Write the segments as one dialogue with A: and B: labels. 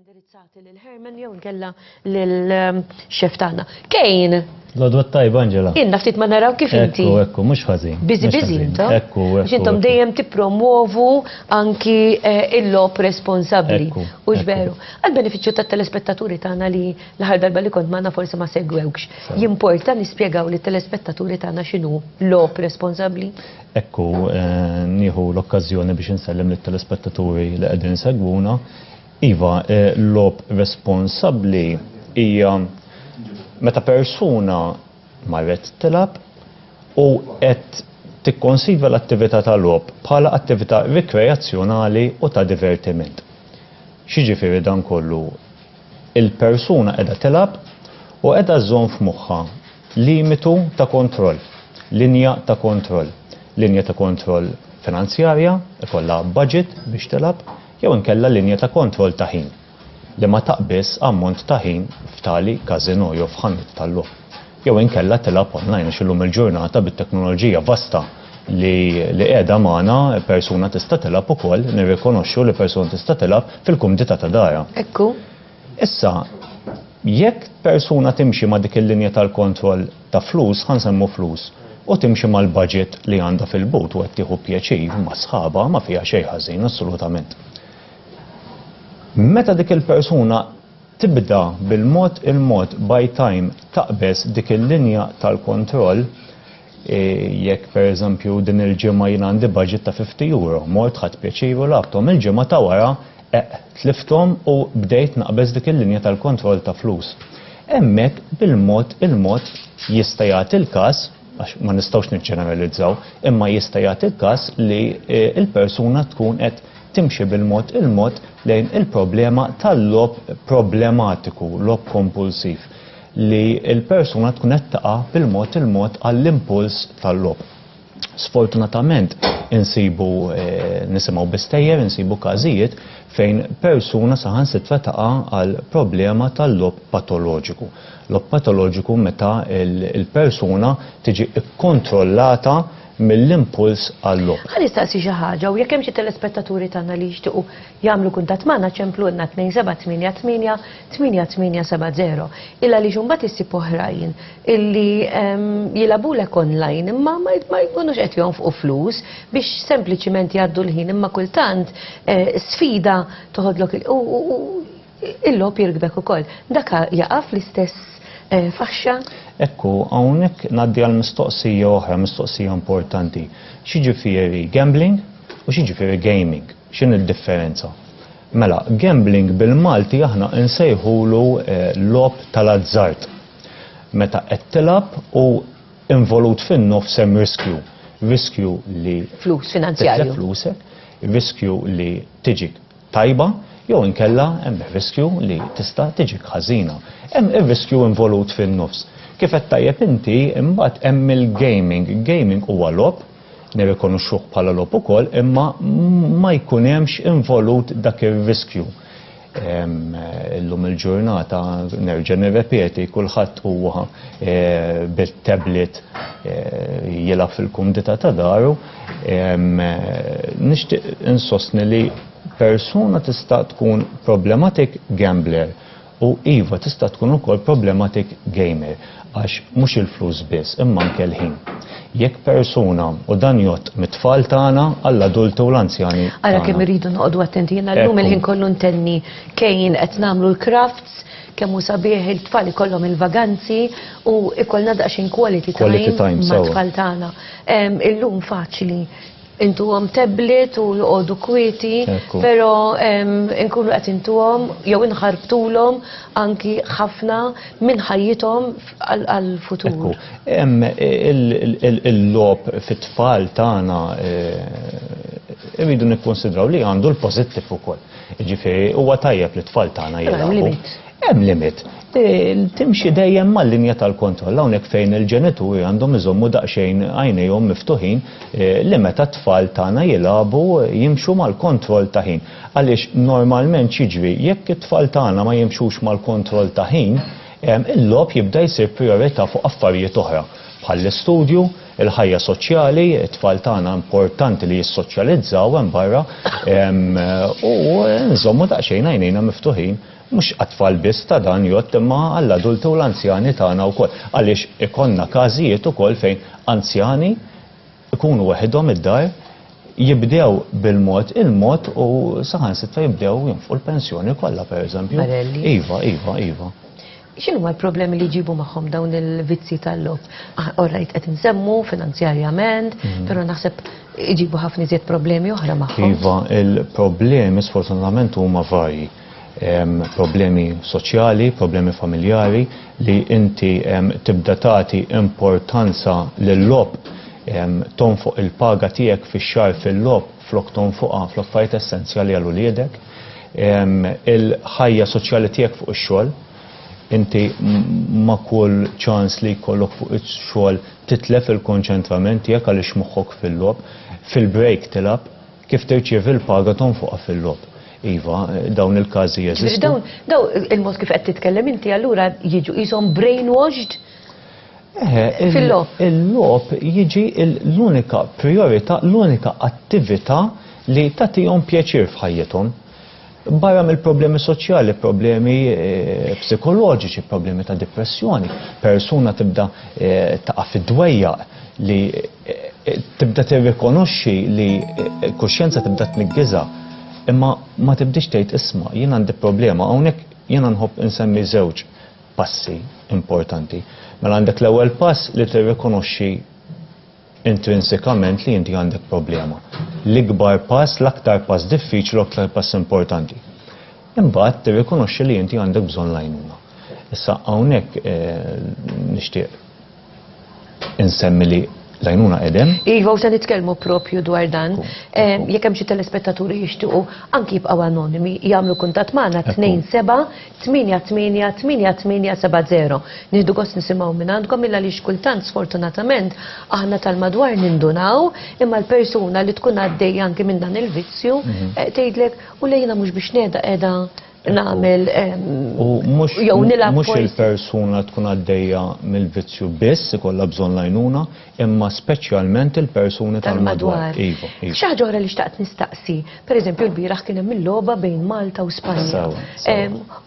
A: indirizzati lil Herman jew nkella lil ehm, xef tagħna. Kejn. L-odwa tajba
B: Angela. Inna ftit ma naraw kif
A: inti. Ekku, ekku, mhux ħażin.
B: Biżi biżi intom. Ekku,
A: ekku. Intom dejjem tippromuovu anki eh, il-lop responsabbli. U ġveru. Għal-benefiċċju tat-telespettaturi tagħna li l-ħar darba li kont magħna forsi ma segwewx. Jimporta nispjegaw li telespettaturi tagħna x'inhu lop responsabbli. Hekk hu,
B: nieħu l-okkażjoni biex insellem lit-telespettaturi li qegħdin isegwuna. Iva, logħob responsabbli hija meta persuna marret tilgħab u qed tikkonsidra l-attività ta' logħob bħala attività rikreazzjonali u ta' divertiment. X'jiġifieri dan kollu? Il-persuna qiegħda tilgħab u qiegħda żżomm f'moħħha Limitu ta' kontroll, linja ta' kontroll, linja ta' kontroll finanzjarja, ikollha baġit biex tilgħab, jew inkella linja ta' kontroll ta' ħin, li ma taqbiżx ammont ta' ħin f'tali każinò jew f'ħanut tal-logħob, jew inkella tilgħab online għax illum il-ġurnata bit-teknoloġija vasta li qiegħda magħna persuna tista' tilgħab ukoll, nirrikonoxxu li persuna tista' tilgħab fil-kumdità ta' darha. Hekk hu.
A: Issa,
B: jekk persuna timxi ma' dik il-linja tal-kontroll ta' flus, ħa nsemmu flus, u timxi mal-budget li għandha fil-but u qed tieħu pjaċir ma' sħabha, ma fiha xejn ħażin, assolutament. Meta dik il-persuna tibda bil-mod il-mod by time taqbeż dik il-linja tal-kontroll, Jekk, pereżempju, din il-ġimgħa jien għandi budget ta' 50 euro, mort ħadt pjaċir u lagħbthom, il-ġimgħa ta' wara, eqq, tlifthom u bdejt naqbeż dik il-linja tal-kontroll ta' flus. Hemmhekk, bil-mod il-mod, jista' jagħti l-każ, għax ma nistgħux niġġeneralizzaw, imma jista' jagħti l-każ li l-persuna tkun qed timxi bil-mod il-mod lejn il-problema tal-logħob problematiku, logħob kompulsiv. li l-persuna tkun qed taqa' bil-mod il-mod għall-impuls tal-logħob. Sfortunatament insibu eh, nisimgħu bistejjer, insibu każijiet fejn persuna saħansitra taqa' għal problema tal-logħob patoloġiku. Logħob patoloġiku meta l-persuna tiġi kkontrollata mill-impuls għall-logħob. Ħalli staqsi xi ħaġa
A: u jekk hemm xi telespettaturi tagħna li jixtiequ jagħmlu kuntatt magħna ċemplulna 2788 8870 il għaliex imbagħad issib oħrajn illi jilagħbulek online imma ma jkunux qed jonfqu flus biex sempliċiment jgħaddu l-ħin imma kultant eh, sfida toħodlok u il-logħob jirkbek ukoll. Dak jaqa' fl-istess eh, faxxa? Ekku,
B: hawnhekk ngħaddi għal mistoqsija oħra, mistoqsija importanti. X'jiġifieri gambling u x'jiġifieri gaming? X'in il-differenza? Mela, gambling bil-Malti aħna insejħulu logħob tal-azzard. Meta qed tilgħab u involut fin-nofs hemm riskju. Riskju li. Flus, finanzjarju. Titlef
A: flusek,
B: riskju li tiġik tajba, jew inkella hemm ir-riskju li tista' tiġik ħażina. Hemm ir-riskju involut fin-nofs. Kif għedt tajjeb inti, imbagħad hemm il-gaming. Gaming huwa logħob. nirrikonoxxuh bħala logħob ukoll imma ma jkun hemmx involut dak ir-riskju. Illum il-ġurnata nerġa' nirrepeti kulħadd huwa eh, bit-tablet eh, jilgħab fil-kumdità ta' daru. Eh, nixtieq insostni li persuna tista' tkun problematic gambler U iva, tista' tkun ukoll problematic gamer, għax mhux il-flus biss, imma anke l-ħin. Jekk persuna, u dan jgħodd mit-tfal tagħna għall-adulti u l-anzjani tagħna. Ara kemm irridu noqogħdu
A: attenti, jiena llum il-ħin kollu ntenni kejjin qed nagħmlu l-crafts, kemm hu sabiħ it-tfal ikollhom il-vaganzi u jkollna daqsxejn quality time mat-tfal tagħna. Illum faċli. intuhom tablet u joqogħdu kwieti, però nkunu qed intuhom jew inħarbtulhom anki ħafna minn ħajjithom għall-futur.
B: Il-logħob fit-tfal tagħna irridu nikkunsidraw li għandu l-pożittiv ukoll. Jiġifieri huwa tajjeb li t-tfal tagħna jilagħbu. Hemm limit. Timxi dejjem mal-linja tal-kontroll hawnhekk fejn il-ġenituri għandhom iżommu daqsxejn għajnejhom miftuħin eh, li meta t-tfal tagħna jilagħbu jimxu mal-kontroll ta' ħin. Għaliex normalment xiġri jekk it-tfal tagħna ma jimxux mal-kontroll ta' ħin, eh, il-logħob jibda jsir prijorità fuq affarijiet oħra bħall-istudju, il-ħajja soċjali, it-tfal tagħna importanti li jissoċjalizzaw hemm barra u nżommu daqsxejn għajnejna miftuħin Mhux għat-tfal biss ta' dan jgħodd imma għall-adulti u l-anzjani tagħna wkoll, għaliex ikollna każijiet ukoll fejn anzjani jkunu weħidhom id-dar, jibdew bil-mod il-mod u saħansitra jibdew jonfqu l-pensjoni kollha pereżempju. Barelli. Iva, iva, iva. X'inhuma
A: l-problemi li jġibu magħhom dawn il-vizzji tal-logħob? Ah, all right, qed insemmu finanzjarjament, mhm. però naħseb iġibu ħafna iżjed problemi oħra magħhom. Iva, il-problemi
B: sfortunatament huma varji. problemi soċjali, problemi familjari li inti tibda tagħti importanza lill-lob tonfoq il-paga tiegħek fix-xahar fil-lob flok tonfoqha fl-affarijiet essenzjali għal uliedek. Il-ħajja soċjali tiegħek fuq ix-xogħol inti ma' kull ċans li jkollok fuq ix-xogħol titlef il-konċentrament tiegħek għaliex moħħok fil-lob, fil-break tilab, kif tirċievi l-paga tonfoqha fil-lob. Iva, dawn il-każi jeżistu. Dawn, daw il-mod kif
A: qed titkellem inti allura jiġu qishom brainwashed eh, fil-lop. Il-lop jiġi
B: l-unika priorità, l-unika attività li tagħtihom pjaċir f'ħajjithom. Barra mill-problemi soċjali, problemi eh, psikoloġiċi, problemi ta' depressjoni, persuna tibda eh, taqa' fid-dwejjaq, li tibda tirrikonoxxi li kuxjenza tibda tniggiża imma ma tibdix tgħid isma' jien għandi problema hawnhekk jiena nħobb insemmi żewġ passi importanti. Mela għandek l-ewwel pass li tirrikonoxxi intrinsikament li inti għandek problema. L-ikbar pass, l-aktar pass diffiċli u aktar pass importanti. Imbagħad tirrikonoxxi li inti għandek bżonn l-għajnuna. Issa hawnhekk eh, nixtieq Insemmi li l-għajnuna edem. Iva, u se nitkellmu
A: propju dwar dan. Eh, jekk hemm xi telespettaturi jixtiequ anki jibqgħu anonimi, jagħmlu kuntatt magħna 27-88-8870. Nieħdu gost nisimgħu minn għandkom illa li xkultant sfortunatament aħna tal-madwar nindunaw imma l-persuna li tkun għaddej anki minn dan il-vizzju mhm. eh, tgħidlek u lejna mhux biex neda qiegħda nagħmel jew nilgħab mhux il-persuna
B: tkun għaddejja mill-vizzju biss ikollha bżonn lajnuna, imma speċjalment il-persuni tal-madwar. Iva, iva. Xi ħaġa oħra
A: li xtaqt nistaqsi, pereżempju l-bieraħ kien hemm il-logħba bejn Malta u Spanja.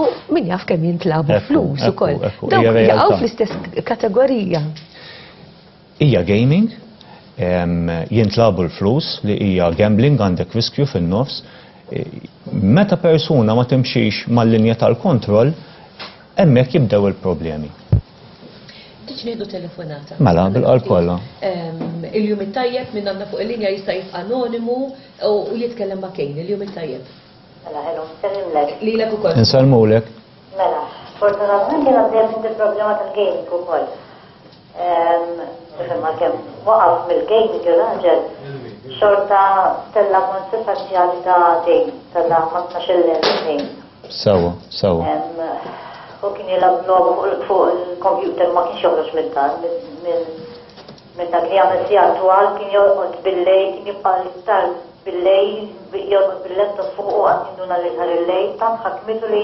A: U min jaf kemm jintlabu flus ukoll. Dawk jaqgħu fl-istess kategorija.
B: Hija gaming, jintlagħbu l-flus li hija gambling għandek riskju fin-nofs. Meta persuna ma timxix mal-linja tal-kontroll, hemmhekk jibdew il-problemi.
A: Tiġ nieħdu telefonata. Mela, bil-qalb kollha.
B: Il-jum
A: it-tajjeb minn għandna fuq il-linja jista' jibqa' anonimu u jitkellem ma' Kejn. Il-jum it-tajjeb. Mela, hello,
C: nsellimlek. Lilek ukoll.
A: Insellmulek.
B: Mela,
C: sfortunatament jiena għaddejja minn dil-problema tal-gaming ukoll. Imma kemm waqaf mill-game il-raġel xorta tella monti parzjali ta' game, tella ma' 12 game. Sawa,
B: sawa.
C: U kien jilab lobu fuq il-kompjuter ma kienx joħroġ minn dan, minn dak li għamil si għal kien joqgħod billej, kien jibqa' l-iktar billej, joqgħod billetta fuq u għad jinduna li ħar il-lej, tant ħakmitu li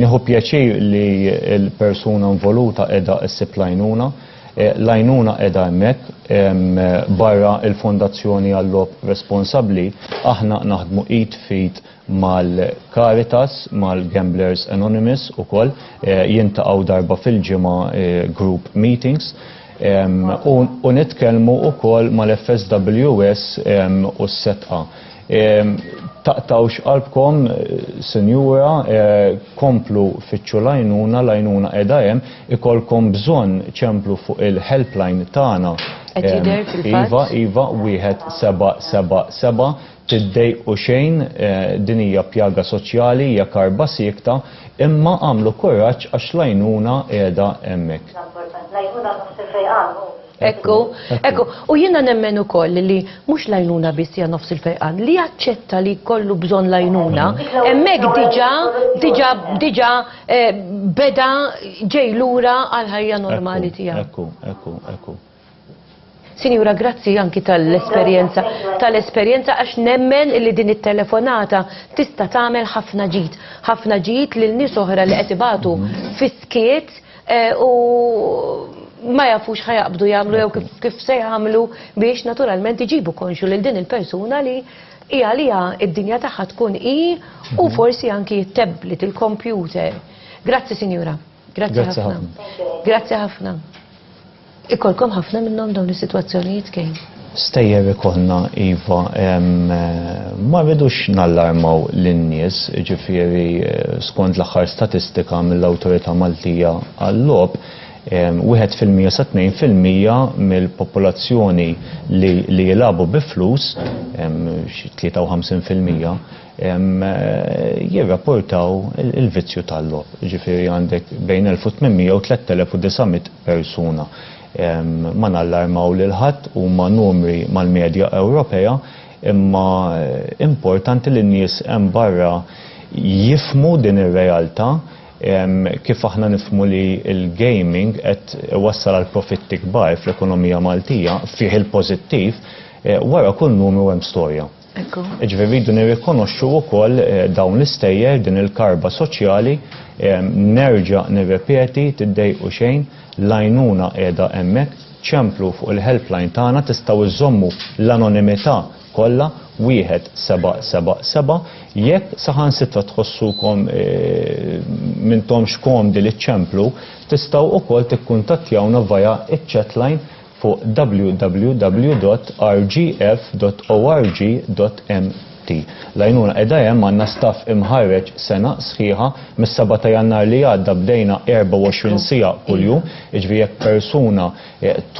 B: Nieħu pjaċir li l-persuna involuta qiegħda ssib l-għajnuna. L-għajnuna qiegħda hemmhekk. Barra l-Fondazzjoni għal-Logħob Responsabbli, aħna naħdmu id f'id mal-Caritas, mal-Gamblers Anonymous ukoll. Jintaqgħu darba fil-ġimgħa group meetings. U nitkellmu ukoll mal-FSWS u s-setqa. Taqtawx qalbkom, Sinjura, komplu fittxu l-għajnuna, l-għajnuna qiegħda hemm, ikollkom bżonn ċemplu fuq il-helpline tagħna. Qed jidher fil-fatt. Iva, iva, wieħed seba' seba' seba'. Tiddejqu xejn, din hija pjaga soċjali, hija karba siekta, imma għamlu kuraġġ għax l-għajnuna qiegħda hemmhekk. L-għajnuna mhux se fejqan hu.
A: Ekku, ekku, u jiena nemmen ukoll li mhux lajnuna biss hija nofs il-fejqan, li jaċċetta li kollu bżonn lajnuna, hemmhekk diġà diġà diġà eh, beda ġej lura għal ħajja normali tiegħu. Ekku, ekku, ekku. Sinjura, grazzi anki tal-esperjenza, tal-esperjenza għax nemmen li din it-telefonata tista' tagħmel ħafna ġid, ħafna ġid lil nies oħra li qed ibatu mhm. fiskiet Eh, u ma jafux ħajabdu jagħmlu jew kif se jagħmlu biex naturalment iġibu konxu lil din il-persuna li hi għalija id-dinja tagħha tkun hi u mhm. forsi anki t-tablet, il-kompjuter. Grazzi sinjura. Grazzi ħafna. Grazzi ħafna. Ikollkom ħafna minnhom dawn is-sitwazzjonijiet kejn? Stejjer ikollna
B: iva, ma rridux nallarmaw lin-nies, jiġifieri skont l-aħħar statistika mill-Awtorità Maltija għal-Logħob, wieħed fil-mija sa tnejn fil-mija mill-popolazzjoni li jilagħbu bi flus, xi tlieta u ħamsin fil-mija, jirrapportaw il-vizzju tal-logħob. Jiġifieri għandek bejn elf u tmien mija u tlett elef u disa' mitt persuna. Ma nallarmaw lil ħadd, huma numri mal-medja Ewropea, imma importanti li n-nies hemm barra jifhmu din ir-realtà kif aħna nifhmu li l-gaming qed iwassal għal profitti kbar fl-ekonomija Maltija, fih il-pożittiv, wara kull numru hemm storja. Ġifieri rridu nirrikonoxxu wkoll eh, dawn l-istejjer din il-karba soċjali eh, nerġa' nirrepeti tiddejqu xejn l-għajnuna qiegħda hemmhekk ċemplu fuq il-helpline tagħna tistgħu iżommu l-anonimità kollha wieħed seba' seba' seba' jekk saħansitra tħossukom eh, mintomx komdi li ċemplu tistgħu wkoll tikkuntattjawna vaja iċ-chatline fuq www.rgf.org.mt. L-għajnuna qiegħda hemm, għandna staff imħarreġ sena sħiħa, mis-seba' ta' Jannar li għadda bdejna 24 siegħa kuljum, jiġifieri jekk persuna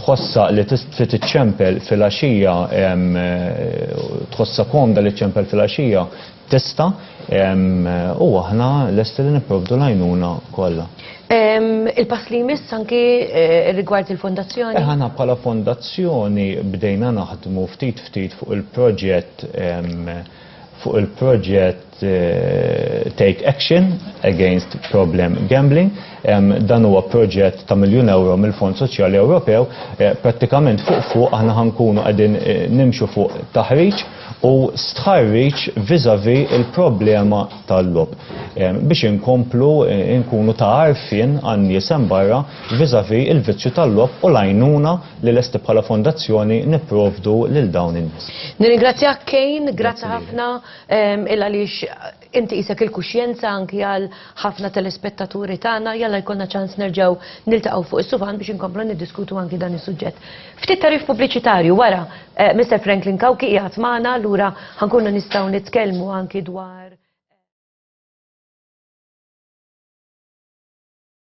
B: tħossha li trid iċċempel filgħaxija, tħossha komda li ċċempel filgħaxija, tista' u aħna lesti li nipprovdu l-għajnuna kollha.
A: Il-pass li jmiss anki eh, rigward il-fondazzjoni? Eh, aħna bħala
B: fondazzjoni bdejna naħdmu ftit ftit fuq il-proġett fuq il-proġett eh, Take Action Against Problem Gambling. Dan huwa proġett ta' miljun euro mill-Fond Soċjali Ewropew. Prattikament fuq fuq aħna ħankunu qegħdin nimxu fuq taħriġ u stħarriġ vis-à-vis il-problema tal-logħob biex inkomplu nkunu ta' għarfien għan-nies hemm barra vis-à-vis il-vizzju tal-logħob u l-għajnuna li lesti bħala fondazzjoni nipprovdu lil dawn in-nies. Nirringrazzjak Kane,
A: grazzi ħafna, il-għaliex Inti qisek il-kuxjenza anki għal ħafna telespettaturi tagħna, jalla jkollna ċans nerġgħu niltaqgħu fuq is-suvan biex inkomplu niddiskutu anki dan is-suġġett. Ftit tagħrif pubbliċitarju wara eh, Mister Franklin Kawki qiegħed magħna, allura ħankunu nistgħu nitkellmu anki dwar